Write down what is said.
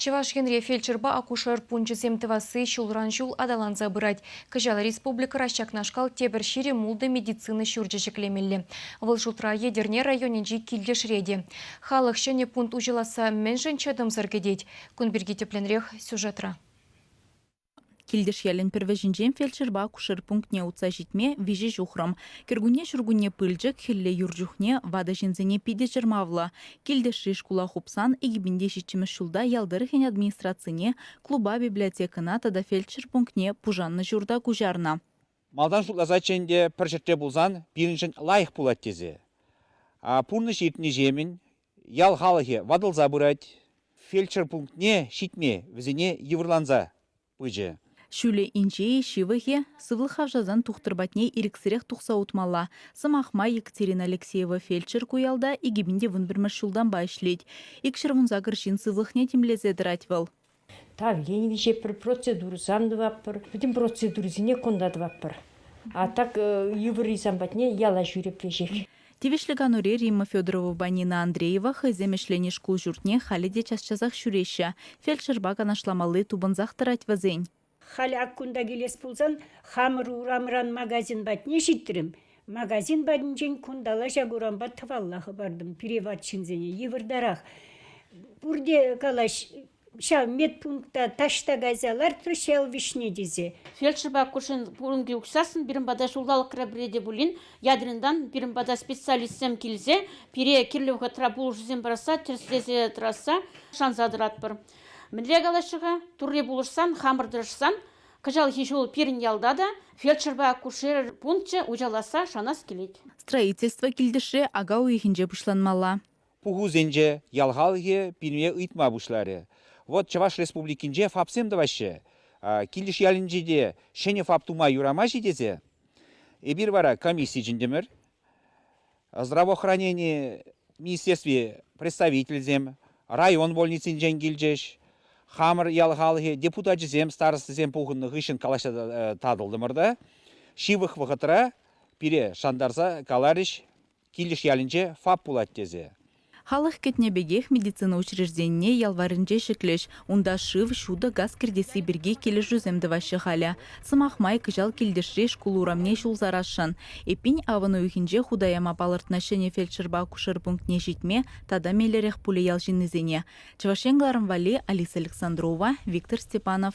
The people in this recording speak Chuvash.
Чӑваш Енре фельдшерпа акушер пункчӗсем тӑвасси ҫулран-ҫул аталанса пырать. Кӑҫал республикӑра ҫакнашкал тепӗр ҫирӗм ултӑ медицина ҫурчӗ ҫӗклемелле. Вӑл шутра Етӗрне районӗнчи Килтешре те. Халӑх ҫӗнӗ пункт уҫӑласса мӗншӗн чӑтӑмсӑр кӗтет? Кун пирки тӗплӗнрех сюжетра. Килтеш ялӗн пӗр вӗҫӗнчен фельдшерпа акушер пунктне утса ҫитме виҫӗ ҫухрӑм. Кӗркунне ҫуркунне пылчӑк, хӗлле юр чухне ватӑ ҫынсене питӗ чӑрмавлӑ. Килтешри шкула хупсан икӗпинте ҫиччӗмӗш ҫулта ял тӑрӑхӗн администрацине, клуба библиотекӑна тата фельдшер пунктне пушаннӑ ҫурта куҫарнӑ. Малтан шутласаччӗ ӗнтӗ пӗр ҫӗртре пулсан пирӗншӗн лайӑх пулать тесе. Пурнӑҫ иртнӗҫемӗн Ял халӑхӗ ватӑлса пырать, фельдшер пунктне ҫитме вӗсене йывӑрланса пычӗ. Ҫӳлӗ инҫе-и, ҫывӑхӗ? Сывлӑх хавшасан тухтӑр патне ирӗксӗрех тухса утмалла. Сӑмах май, Екатерина Алексеева фельдшер ку ялта икӗ пин те вун пӗрмӗш ҫултанпа ӗҫлет. Икҫӗр вунсакӑр ҫын сывлӑхне тимлесе тӑрать вӑл. Тавлен виҫепӗр процедура сан тӑваппӑр, пӗтӗм процедурӑсене кунта тӑваппӑр. А так йывӑр сан патне яла ҫӳрепреҫех. Тивӗҫлӗ канури Римма Федоровӑпа Нина Андреева хӑйсем ӗҫленӗ шкул ҫуртне халӗ те час-часах ҫӳреҫҫӗ. Фельдшерпа канашламалли тупӑнсах тӑрать вӗсен. Халӗ ак кунта килес пулсан хамӑр урамран магазин патне ҫитрӗм. Магазин патӗнчен кунталла ҫак урампа тӑвалла хӑпартӑм пире ват ҫынсене йывӑртарах. Пурте калаҫ ҫав медпункта таҫта кайса лартрӗҫ ҫав вӗҫне тесе. Фельдшерпа акушер пурӑнки участокӑн пирӗн пата ҫулталӑкра пӗре те пулин ядринтан пирӗн пата специалистсем килсе пире кирлӗ вӑхӑтра пулӑшусем парасса тӗрӗслесе тӑрасса шанса тӑратпӑр. Мӗнле калаҫҫӗ-ха? Турри пулӑшсан, хамӑр тӑрӑшсан кӑҫалхи ҫул пирӗн ялта та фельдшерпа акушер пункчӗ уҫӑласса шанас килет. Строительство килтӗшре ака уйӑхӗнче пуҫланмалла. Пухусенче ял халӑхӗ пире ыйтма пуҫларӗ. Вӑт Чӑваш Республикинче ФАПсем тӑваҫҫӗ. Килӗш ялӗнче те ҫӗнӗ ФАП тума юрамасть-и тесе эпир вара комисси чӗнтӗмӗр. Здравоохранени министерстви представительсем район больницинчен килчӗҫ. Хамӑр ял халӑхӗ депутачӗсем, старостӑсем пухӑннӑ хыҫҫӑн калаҫса э, татӑлтӑмӑр та ҫывӑх вӑхӑтра пире шантарса каларӗҫ, Килӗш ялӗнче ФАП пулать тесе. Халӑх кӗтнӗ пекех медицина учрежденине ял варринче ҫӗклӗҫ. Унта шыв, ҫутӑ, газ кӗртесси пирки килӗшӳсем тӑваҫҫӗ халӗ. Сӑмах май, кӑҫал килтешри шкул урамне ҫул сарасшӑн. Эппин, авӑн уйӑхӗнче хута яма палӑртнӑ ҫӗнӗ фельдшерпа акушер пунктне ҫитме тата меллӗрех пулӗ ял ҫыннисене. Чӑваш Ен кӑларӑм валли Алиса Александрова, Виктор Степанов.